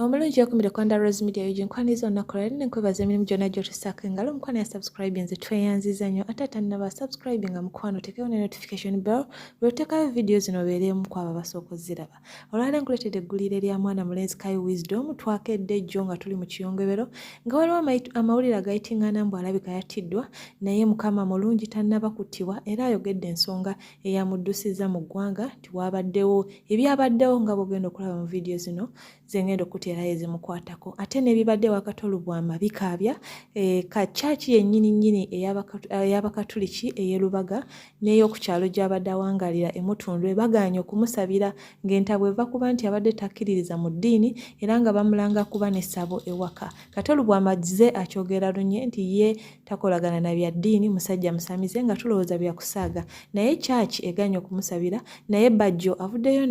omulungi okumire kwanda rose media yugi nkwaniza olunaku lwali nenkwebaza emirimu gyonna gyotusaako engalo omukwano ya subscribe nze tweyanziza nnyo ate atanaba subscribe nga mukwano tekewo ne notification bell lwotekayo vidiyo zino obeereemu kwabo abasooka oziraba olwale nkuleetedde eggulire lya mwana mulenzi kai wisdom twakedde jjo nga tuli mu kiyongobero nga waliwo amawulire agayitingana mbu alabika yattiddwa naye mukama mulungi tannaba kuttibwa era ayogedde ensonga eyamuddusizza mu ggwanga nti waabaddewo ebyabaddewo nga bwogenda okulaba mu vidiyo zino zengenda okuteerayo ezimukwatako ate n'ebibadde wakati olubwama bikaabya e, ka kyaki yennyini nnyini ey'abakatuliki ey'elubaga n'ey'oku kyalo gy'abadde awangaalira e Mutundwe bagaanye okumusabira ng'entabwe eva kuba nti abadde takkiririza mu ddiini era nga bamulanga kuba ne ssabo ewaka. Katolu bw'amazze akyogera lunye nti ye takolagana na bya ddiini musajja musamize nga tulowooza bya kusaaga naye kyaki eganye okumusabira naye Bajjo avuddeyo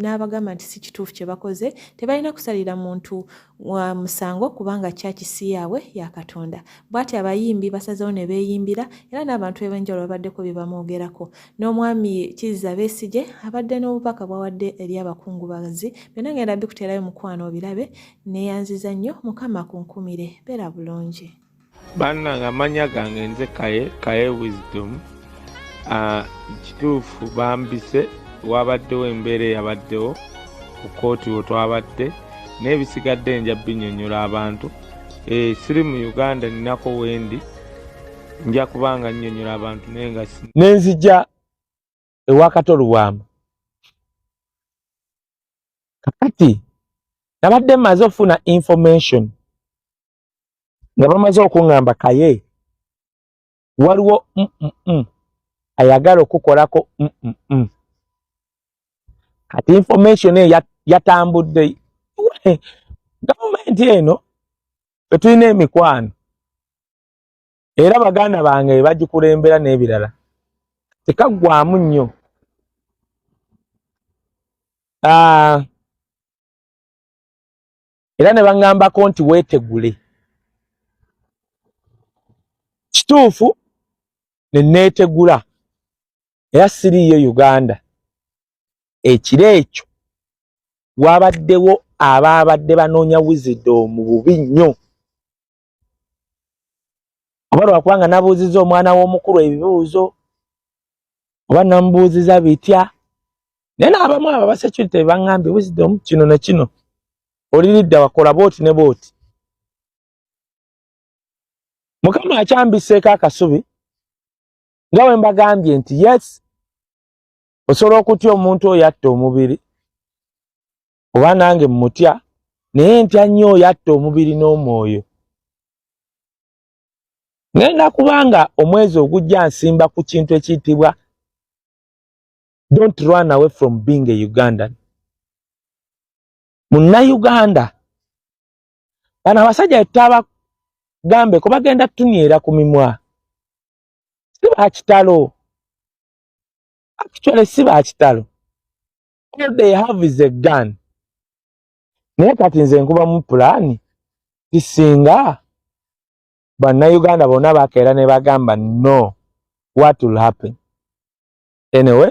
n'abagamba nti si kituufu kye bakoze tebalina kusalira muntu wa musango kubanga church si yaabwe ya katonda bwati abayimbi basazewo ne beeyimbira era n'abantu eb'enjawulo babaddeko bye bamwogerako n'omwami kizza besigye abadde n'obubaka bwawadde eri abakungubazi byonna ngenda bikuteerayo mukwano obirabe neyanziza nnyo mukama kunkumire beera bulungi bannange amanya gange nze kaye kaye wisdom ah, kituufu bambise wabaddewo embeera eyabaddewo ku kooti wo twabadde naye bisigadde nja binyonyola abantu eh, siri mu uganda ninako wendi nja kubanga nyonyola abantu naye nga nenzija ewakato lubwama kakati nabadde maze okufuna information nga bamaze okuŋŋamba kaye waliwo mm ayagala okukolako mm kati information eyo yatambudde gavumenti eno etulina emikwano era baganda bange bagikulembera n'ebirala tekaggwamu nnyo ah, era ne baŋŋambako nti weetegule kituufu ne neetegula era siriiyo uganda ekiro ekyo waabaddewo abaabadde banoonya wizido mu bubi nnyo oba lwakuba nga nabuuziza omwana w'omukulu ebibuuzo oba namubuuziza bitya naye naabamu abo abasecurity bebaŋambye wisdom kino ne kino oliridda wakola booti ne booti mukama akyambiseeko akasubi nga bwe mbagambye nti yes osobola okutya omuntu oyo atta omubiri oba nange mmutya naye ntya nnyo oyo atta omubiri n'omwoyo ngenda kubanga omwezi ogujja nsimba ku kintu ekiyitibwa don't run away from being a ugandan munnayuganda bano abasajja tutabagambe ko bagenda tunyera ku mimwa si bakitalo actually si bakitalo all they have is a gun naye kati nze nkuba mu pulaani tisinga bannayuganda bonna bakeera ne bagamba no what will happen anyway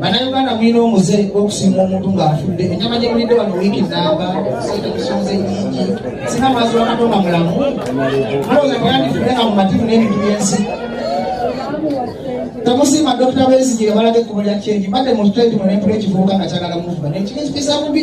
bannayuganda mulina omuze okusiima omuntu ng'afudde ennyama gye mulidde wano wiiki nnamba sente musonze nyingi sina mwazi wa katonda mulamu mulowooza teyandifudde nga mu mativu n'ebintu by'ensi temusiima dokita besigire balaga ekkubo lya kyenyi mbadde mu tutenti mu nempula ekivubuka nga kyagala muvuba nekiri ekipisa bubi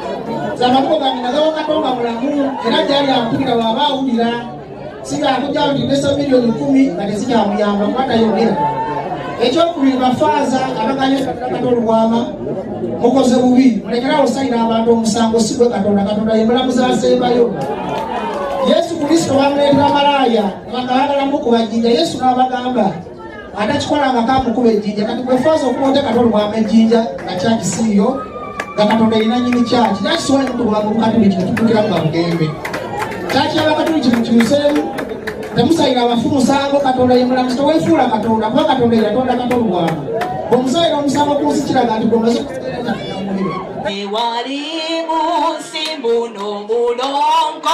zamakuba nagawa katonda mulamu era gyali ampulira waaba awulira sigakujja nti nesa milioni kumi nga tezikyamuyamba kuba tayogera ekyokubiri bafaaza abaganye katonda olubwama mukoze bubi mulekerawo sayira abantu omusango sigwe katonda katonda yemulamu zasembayo yesu kristo bamuleetera malaaya bakabagala mukubajinja yesu n'abagamba atakikola nga kamukuba ejjinja kati gwefaaza okuba otekata olubwama ejjinja nga kyaki siiyo nga katonda erina nyini kyaki nakisobola nokutubulamu bukatuliki netutukira nga bugembe kyaki yabakatuliki mukyuseemu temusayira abafu musango katonda yemulamuzi tewefuula katonda kuba katonda yatonda kata olubwama omusayira omusango kunsi kiraga nti gwomaze ewali munsi mbuno mulongo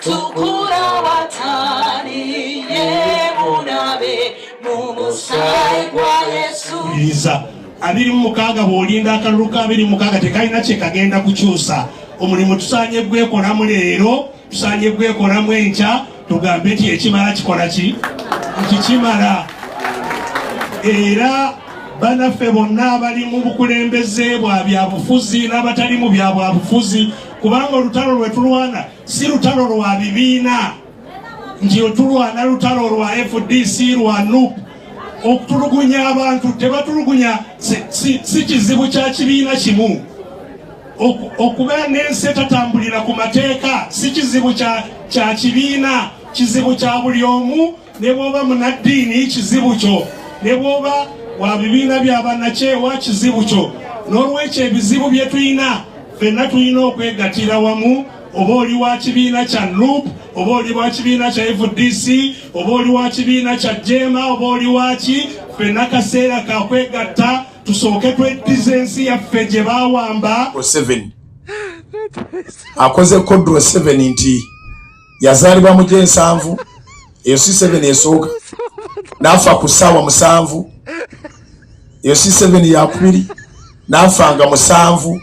tukura watani yebunabe mumusai gwa yesu iza abiri mumukaaga bwolinda akalulu ka abiri mukaaga tekalina kyekagenda kukyusa omulimu tusanye gwekolamu leero tusanye gwekolamu enkya tugambe nti ekimala kikola ki nti kimala era banaffe bonna abali mu bukulembeze bwa byabufuzi n'abatali mu bya bwabufuzi kubanga olutalo lwe tulwana si lutalo lwa bibiina nti otulwana lutalo lwa fdc lwa nup okutulugunya abantu tebatulugunya si kizibu kya kibiina kimu okuba n'ensi etatambulira ku mateeka si kizibu kya kibiina kizibu kya buli omu ne bwoba munaddiini kizibu kyo ne bwoba wa bibiina bya bannakyewa kizibu kyo n'olwekyo ebizibu bye tulina fenna tulina okwegatira wamu oba oli wa kibiina kya nup oba oli wa kibiina kya fdc oba oli wa kibiina kya jema oba oli waki fenna kaseera kakwegatta tusooke tweddiza ensi yaffe gye bawamba akoze kodro 7 nti yazaalibwa mu gyensanvu eyo si seven esooka naafa ku ssaawa musanvu eyo si seven yakubiri naafa nga musanvu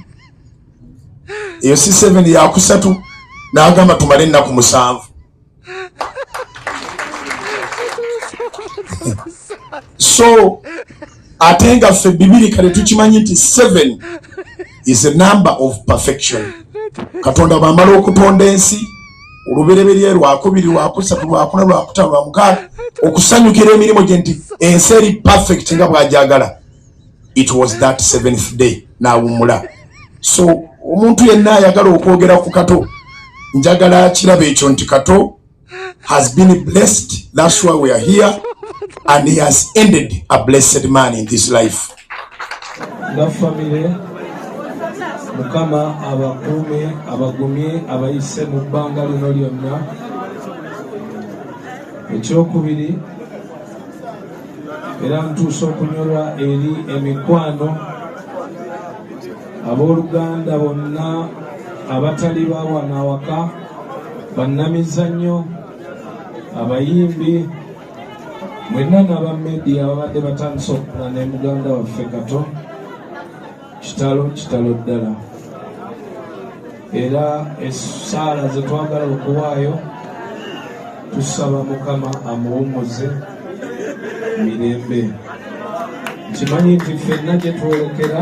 eyo si seven yakusatu n'agamba tumale ennaku musanvu so ate nga ffe bibiri kale tukimanyi nti seven is a number of perfection katonda bwamala okutonda ensi olubereberye lwakubiri lwakusatu lwakuna lwakutano lwamukaaga okusanyukira emirimu gye nti ensi eri perfect nga bwajagala it was that seventh day nawumula so omuntu yenna ayagala okwogera ku kato njagala kiraba ekyo nti kato has been blessed. That's why we are here. And he has ended a blessed man in this life. That family, Mukama abakume abagumye abayise mu bbanga lino lyonna ekyokubiri era mutuusa okunyolwa eri emikwano abooluganda bonna abatali ba wano awaka bannamizannyo abayimbi mwenna n'aba media ababadde batandise okukula ne muganda waffe kato kitalo kitalo ddala era essaala ze twagala okuwaayo tusaba mukama amuwummuze mirembe nkimanyi nti ffenna gye twolekera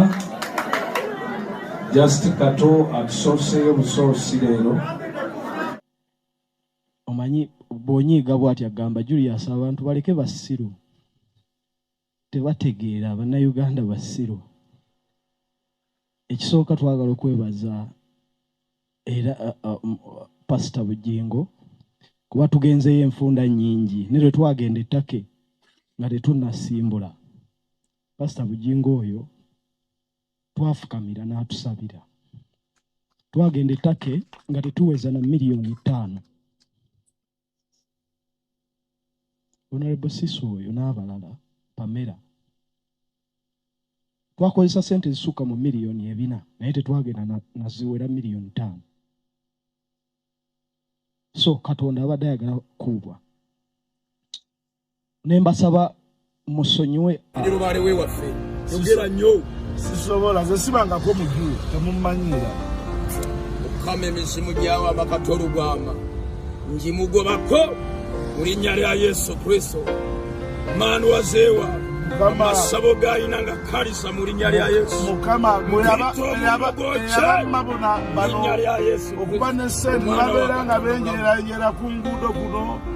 just kato atusooseeyo busoosi leero omanyi bwonyiiga bwati agamba julius abantu baleke basiru tebategeera bannayuganda basiru ekisooka twagala okwebaza era pasita bujingo kuba tugenzeyo enfunda nyingi ne lwe twagenda ettake nga tetunasimbula pasita bujingo oyo twafukamira n'atusabira twagenda ettake nga tetuweza na miliyoni ttaano honorable siso oyo n'abalala pamera twakozesa sente ezisukka mu miliyoni ebina naye tetwagenda naziwera miliyoni taano so katonda abadde ayagala kuubwa ne mbasaba musonyiwe lubaale we waffe yogera nnyo sisobola ze sibangako muju temummanyiira okukama emizimu gyawo amakata olugwama ngimugobako mu linnya lya yesu kristo maani wazeewa amasabo gayina nga kalisa mu linnya lya yesuokuba ne sente babeera nga benjererayera ku nguudo kuno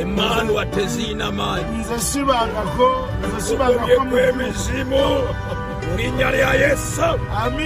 emmanuwa teziina maanyi nze sibangako nze sibangako emizimu mu linnya lya yesu